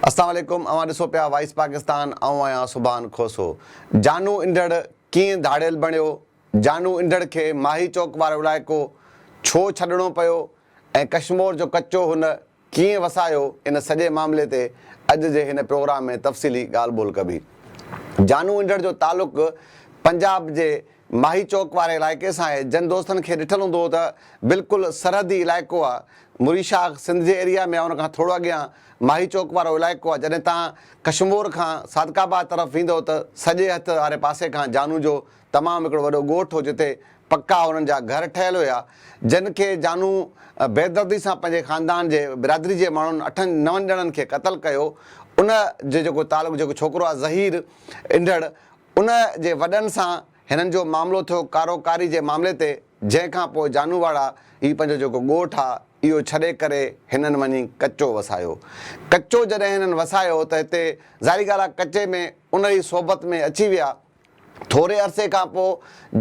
السلام عليڪم اوهان ڏسو پيا وائس پاڪستان آئون آهيان سبحان کوسو جانو انڍڙ ڪيئن ڌاڙيل بڻيو جانو انڍڙ کي ماهي چوڪ وارو علائقو ڇو ڇڏڻو پيو ۽ ڪشمور جو ڪچو هن ڪيئن وسايو ان سڄي معاملي تي اڄ جي هن پروگرام ۾ تفصيلي ڳالهه ٻولهه ڪبي. جانو انڍڙ جو تعلق پنجاب جي ماهي چوڪ واري علائقي سان آهي جن دوستن کي ڏٺل هوندو ته بلڪل سرحدي علائقو آ مري شاخ سنڌ جي ايريا ۾ آ ان کان ٿورو اڳيان ماهي چوڪ وارو علائقو آ جڏهن تان ڪشمور کان صادق آباد طرف ويندو ته سڄي هٿ واري پاسي کان جانو جو تمام هڪڙو وڏو ڳوٺ هو جتي پڪا انهن جا گهر ٺهيل هيا جن کي جانو بيدردي سان پنهنجي خاندان جي برادري جي ماڻهن اٺن نون ڄڻن کي قتل ڪيو ان جو جيڪو تعلق جيڪو ڇوڪرو آهي ظهير انڍڙ ان جي وڏن سان هنن جو معاملو ٿيو ڪارو ڪاري جي معاملي تي جنهن کان پوء جانو واڙا هي پنهنجو جيڪو ڳوٺ آهي اهو ڇڏي ڪري هنن وڃي ڪچو وسايو ڪچو جڏهن هنن وسايو ته هتي ظاهري ڳالهه آهي ڪچي ۾ انهري صحبت ۾ اچي ويا ٿوري عرصي کان پوء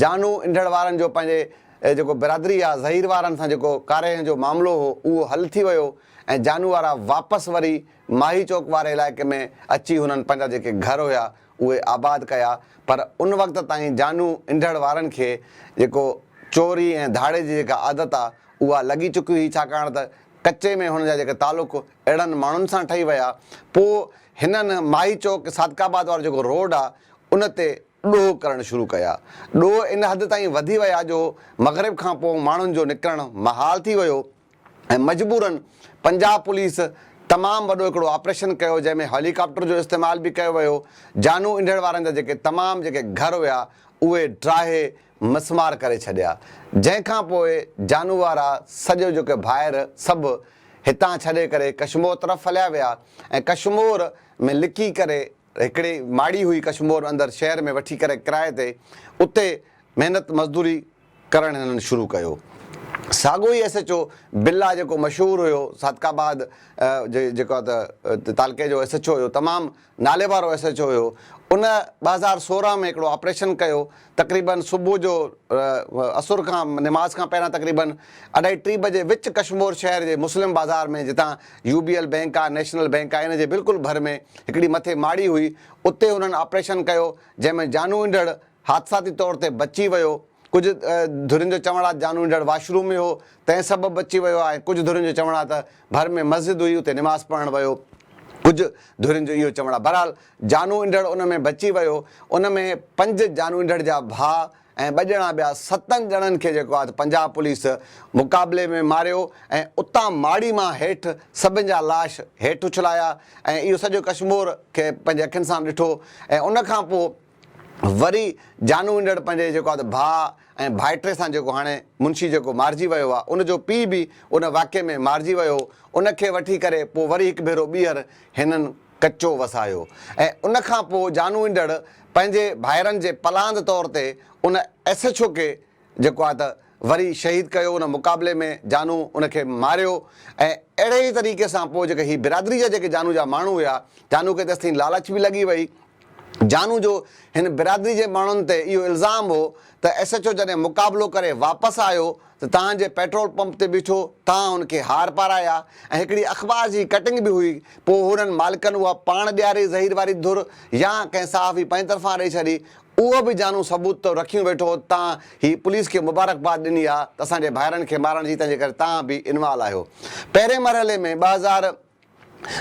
جانو انڍڙ وارن جو پنهنجي جيڪو برادري يا زهير وارن سان جيڪو ڪاريهن جو معاملو هو اهو حل ٿي ويو ۽ جانو وارا واپس وري ماهي چوڪ واري علائقي ۾ اچي هنن پنهنجا جيڪي گهر هيا اهي آباد ڪيا پر ان وقت تائين جانو انڍڙ وارن کي جيڪو چوري ۽ ڌاڙي جي جيڪا عادت آ اها لڳي چڪي هئي ڇاڪاڻ ته ڪچي ۾ هن جا جيڪي تعلق اهڙن ماڻهن سان ٺهي ويا پوء هنن ماهي چوڪ صادق آباد وارو جيڪو روڊ آ ان تي ڏوهه ڪرڻ شروع ڪيا. ڏوهه ان حد تائين وڌي ويا جو مغرب کان پوء ماڻهن جو نڪرڻ محال ٿي ويو ۽ مجبورا پنجاب پوليس تمام وڏو هڪڙو آپريشن ڪيو جنهن ۾ هيلي ڪاپٽر جو استعمال به ڪيو ويو جانو انڍڙ وارن جا جيڪي تمام جيڪي گهر هيا اهي ڊاهي مسمار ڪري ڇڏيا جنهن کان پوء جانو وارا سڄو جو ڪي ڀائر سڀ هتان ڇڏي ڪري ڪشمور طرف هليا ويا ۽ ڪشمور ۾ لڪي ڪري هڪڙي ماڙي هئي ڪشمور اندر شهر ۾ وٺي ڪري ڪرائي تي اتي محنت مزدوري ڪرڻ هنن شروع ڪيو ساڳو ئي ايس ايچ او بلا جيڪو مشهور هيو صادق آباد جي جيڪو تعلقي جو ايس ايچ او هيو تمام ناليوارو ايس ايڇ او هيو ان ٻه هزار سورهن ۾ هڪڙو آپريشن ڪيو تقريبن صبح جو عصر کان نماز کان پهريان تقريبن اڍائي ٽي بجي وچ ڪشمور شهر جي مسلم بازار ۾ جتان يو بي ايل بينڪ آهي نيشنل بينڪ آهي ان جي بلڪل ڀر ۾ هڪڙي مٿي ماڙي هئي اتي هنن آپريشن ڪيو جنهن ۾ جانوئنڊڙ حادثاتي طور تي بچي ويو ڪجهه ڌرين جو چوڻ آهي جانو انڊڙ واش روم ۾ هو تنهن سبب بچي ويو آهي ڪجهه ڌرين جو چوڻ آهي ته ڀر ۾ مسجد هئي اتي نماز پڙهڻ ويو ڪجهه ڌرين جو اهو چوڻ آهي بهرحال جانو انڊڙ ان ۾ بچي ويو ان ۾ پنج جانو انڊڙ جا ڀاء ۽ ٻه ڄڻا ٻيا ستن ڄڻن کي جيڪو آهي ته پنجاب پوليس مقابلي ۾ ماريو ۽ اتان ماڙي مان هيٺ سڀن جا لاش هيٺ اڇلايا ۽ اهو سڄو ڪشمور کي پنهنجي اکين سان ڏٺو ۽ ان کان پوء وري جانو هنڊڙ پنهنجي جيڪو آهي ڀاء ۽ ڀائٽي سان جيڪو هاڻي منشي جيڪو مارجي ويو آهي ان جو پيء به ان واقعي ۾ مارجي ويو هو ان کي وٺي ڪري پوء وري هڪ ڀيرو ٻيهر هنن ڪچو وسايو ۽ ان کان پوء جانو هنڊڙ پنهنجي ڀائرن جي پلاند طور تي ان ايسڇوڪي جيڪو آء ته وري شهيد ڪيو ان مقابلي ۾ جانو ان کي ماريو ۽ اهڙي ئي طريقي سان پوء جيڪي هي برادري جا جيڪي جانو جا ماڻهو هيا جانو کي تيستائين لالچ به لڳي وئي جانو جو هن برادري جي ماڻهن تي اهو الزام هو ته ايس ايڇ او جڏهن مقابلو ڪري واپس آيو ته تهان جي پيٽرول پمپ تي بيٺو تهان هن کي هار پارايا ۽ هڪڙي اخبار جي ڪٽنگ به هئي پوء هنن مالڪن اها پاڻ ڏياري ظهير واري ڌر يا ڪنهن صحافي پنهنجي طرفان ڏئي ڇڏي اهو به جانو ثبوت تو رکيون ويٺو تان هي پوليس کي مبارڪباد ڏني آ ته اسان جي ڀائرن کي مارڻ جي تنهن جي ڪري تان به انوال آهيو پهرين مرحلي ۾ ٻه هزار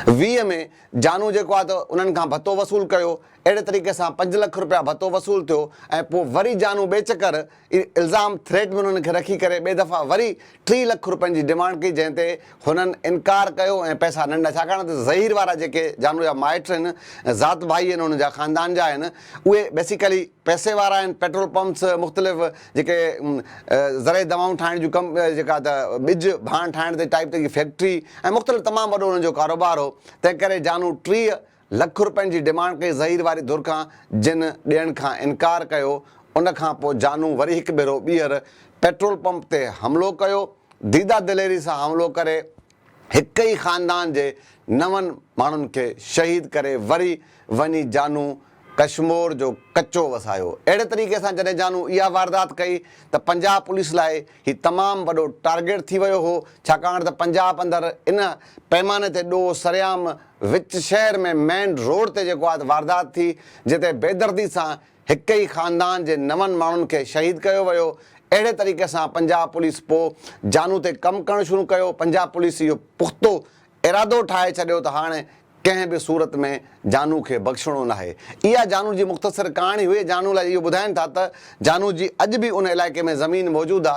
ويهه ۾ جانو جيڪو آ ته انهن کان ڀتو وصول ڪيو اهڙي طريقي سان پنج لک روپيا ڀتو وصول ٿيو ۽ پو وري جانو ٻي چڪر اهو الزام ٿريٽ ۾ انهن کي رکي ڪري ٻئي دفعا وري ٽي لک روپين جي ڊيمانڊ ڪئي جنهن تي هنن انڪار ڪيو ۽ پئسا نه ڏنا ڇاڪاڻ ته ظهير وارا جيڪي جانو جا مائٽ آهن ذات ڀائي آهن انهن جا خاندان جا آهن اهي بيسيڪلي پئسي وارا آهن پيٽرول پمپس مختلف جيڪي زرعي دوائون ٺاهڻ جون ڪم جيڪا ته ٻج ڀاڻ ٺاهڻ تي ٽائيپ تي جي فيڪٽري ۽ مختلف تمام وڏو انهن جو ڪاروبار هو تنهن ڪري جانو ٽيهه لک روپين جي ڊمانڊ ڪئي ظهير واري ڌر کان جن ڏيڻ کان انڪار ڪيو ان کان پوء جانو وري هڪ ڀيرو ٻيهر پيٽرول پمپ تي حملو ڪيو ديده دليري سان حملو ڪري هڪ ئي خاندان جي نون ماڻهن کي شهيد ڪري وري وڃي جانو ڪشمور جو ڪچو وسايو اهڙي طريقي سان جڏهن جانو اها واردات ڪئي ته پنجاب پوليس لاء هي تمام وڏو ٽارگيٽ ٿي ويو هو ڇاڪاڻ ته پنجاب اندر ان پيماني تي ڏوهه سرعام وچ شهر ۾ مين روڊ تي جيڪو آت واردات ٿي جتي بيدردي سان هڪ ئي خاندان جي نون ماڻهن کي شهيد ڪيو ويو اهڙي طريقي سان پنجاب پوليس پو جانو تي ڪم ڪرڻ شروع ڪيو پنجاب پوليس اهو پختو ارادو ٺاهي ڇڏيو ته هاڻي ڪنهن به صورت ۾ جانو کي بخشڻو ناهي اها جانو جي مختصر ڪهاڻي هئي جانو لاء اهو ٻڌائين ٿا ته جانو جي اڄ به ان علائقي ۾ زمين موجود آ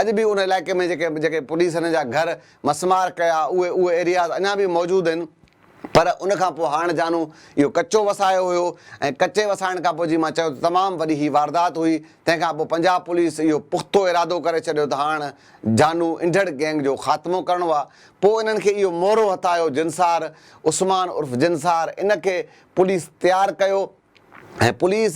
اڄ به ان علائقي ۾ جيڪي جيڪي پوليس هن جا گهر مسمار ڪيا، اهي اهي ايرياز اڃا به موجود آهن پر ان کان پوء هاڻ جانو اهو ڪچو وسايو هيو ۽ ڪچي وسائڻ کان پوء جيئن مان چيو ته تمام وڏي هي واردات هئي تنهن کان پوء پنجاب پوليس اهو پختو ارادو ڪري ڇڏيو ته هاڻ جانو انڍڙ گينگ جو خاتمو ڪرڻو آهي پوء انهن کي اهو مورو هٿ آيو جنسار عثمان عرف جنسار ان کي پوليس تيار ڪيو ۽ پوليس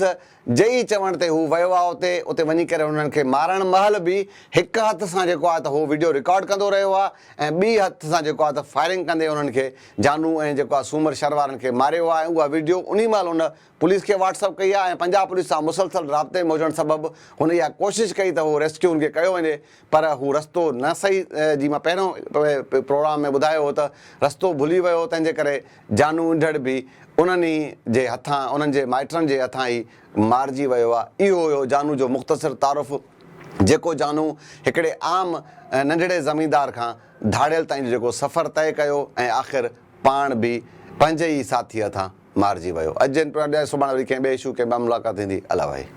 جي ئي چوڻ تي هو ويو آهي اتي، اتي وڃي ڪري هنن کي مارڻ مهل به هڪ هٿ سان جيڪو آهي ته هو وڊيو رڪارڊ ڪندو رهيو آهي ۽ ٻي هٿ سان جيڪو آهي ته فائرنگ ڪندي انهن کي جانو ۽ جيڪو آهي سومر شھر وارن کي ماريو آهي ۽ اها وڊيو انهي مهل هن پوليس کي واٽس اپ ڪئي آهي ۽ پنجاب پوليس سان مسلسل رابطي ۾ هجڻ سبب هن اها ڪوشش ڪئي ته هو ريسڪيو هن کي ڪيو وڃي پر هو رستو نه صحيح جي مان پهريون پروگرام ۾ ٻڌايو هو ته رستو ڀلي ويو تنهن جي ڪري جانو انڍڙ به انهن ئي جي هٿان انهن جي مائٽرن جي هٿان ئي مارجي ويو آ. اهو هيو جانو جو مختصر تعارف جيڪو جانو هڪڙي عام ننڍڙي زميندار کان ڌاڙيل تائين جو جيڪو سفر طئي ڪيو ۽ آخر پاڻ به پنهنجي ئي ساٿيء هٿان مارجي ويو. اڄ جي ان پروگرام ڏانهن سڀاڻي وري ڪنهن ٻئي اشو ڪنهن ٻئي ملاقات ٿيندي. الله وحي.